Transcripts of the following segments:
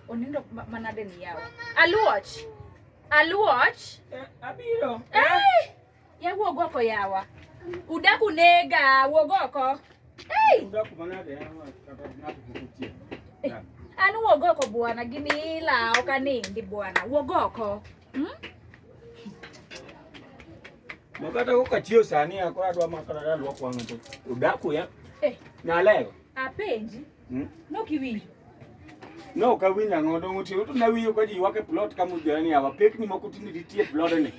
onindo manade ni yawa aluoch aluoch eh, abiro eh? Ya wuog oko yawa. Udak unega, wuog oko. Hey! Udak manade yawa kata ng'ato kukutie. Eh, an wuog oko bwana, gini ila ok anindi bwana. Wuog oko. Hmm? Makata koka chio sani akora dwa makara dwa kwa ng'ato. Udaku ya. Eh. Nalego. Apenji. Hmm? No kiwinjo. No kawinjo ang'o dong' otiyo to nawinjo ka ji ywak e plot ka mujore ni awa pekni moko tinde nitie e plodni.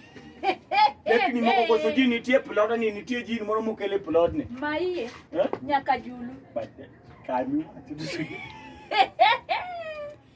Pekni moko koso ji nitie e plodni nitie jin moro mokel e plodni. Maiye Eh? nyaka julu. But, eh, kami wacho.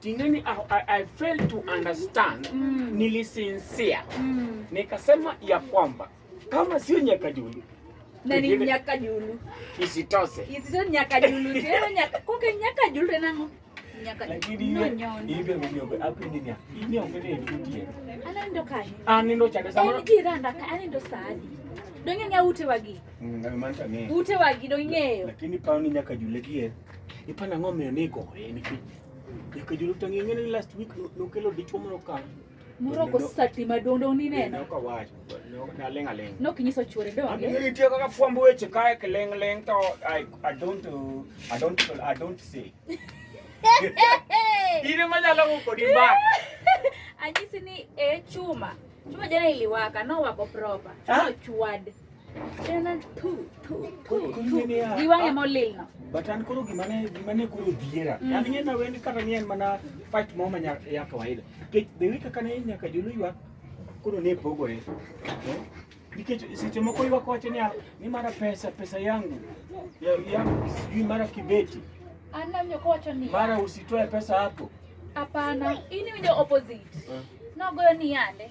Tingani, I, I, I failed to understand mm. Nilisinsia mm. Nikasema ya kwamba kama sio Nyakajulu na ni Nyakajulu isitose isitose Nyakajulu tena nyaka koke Nyakajulu tena ngo anendo kani anendo chande sama en jiranda ka anendo sadi donge ng'e ute wagi mm, ute wagi donge ng'eyo lakini pao ni Nyakajulu gie Ipa nang'o miyo ni igoye nikech nyaka jolup tangi ng'e ni last week no- nokelo dichwo moro ka Moroko sati madondo uninena. noka wach naleng' aleng' Nokinyiso chuore Amiyo donge. nitie kaka fwambo weche kae kiling' ling' to I, I don't uh, I don't I don't say. In ema nyalo wuko di mbaka. Anyisi ni e chuma. Chuma jana iliwaka nowako proper. Ah. Chwad. giwang'e molilno but an koro gimane gimane koro dhiera mm. an ng'e na wendi kata ni en mana fight moro ma ya kawaida nikech the week kaka ne nyaka jolo ywak koro ne pogore eh? nikech seche moko ywak wacho ni ni mara pesa pesa yangu yangu sijui mara kibeti mara usitoe pesa hapo hapana ini winjo opposite eh. nogoyo ni yande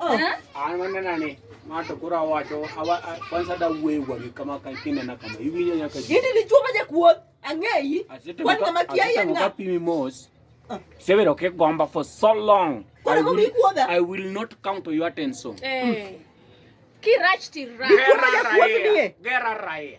an wannan na ne mata kura wato kwanza da uwe wa kama kan kina na kama hivi ne nyaka gidi ni chuma je kuo angeyi kwani kama kiaye nga kapi mimos ah. seven okay gomba for so long I will, I will not come to your attention eh mm. kirach ti ra gera rae gera rae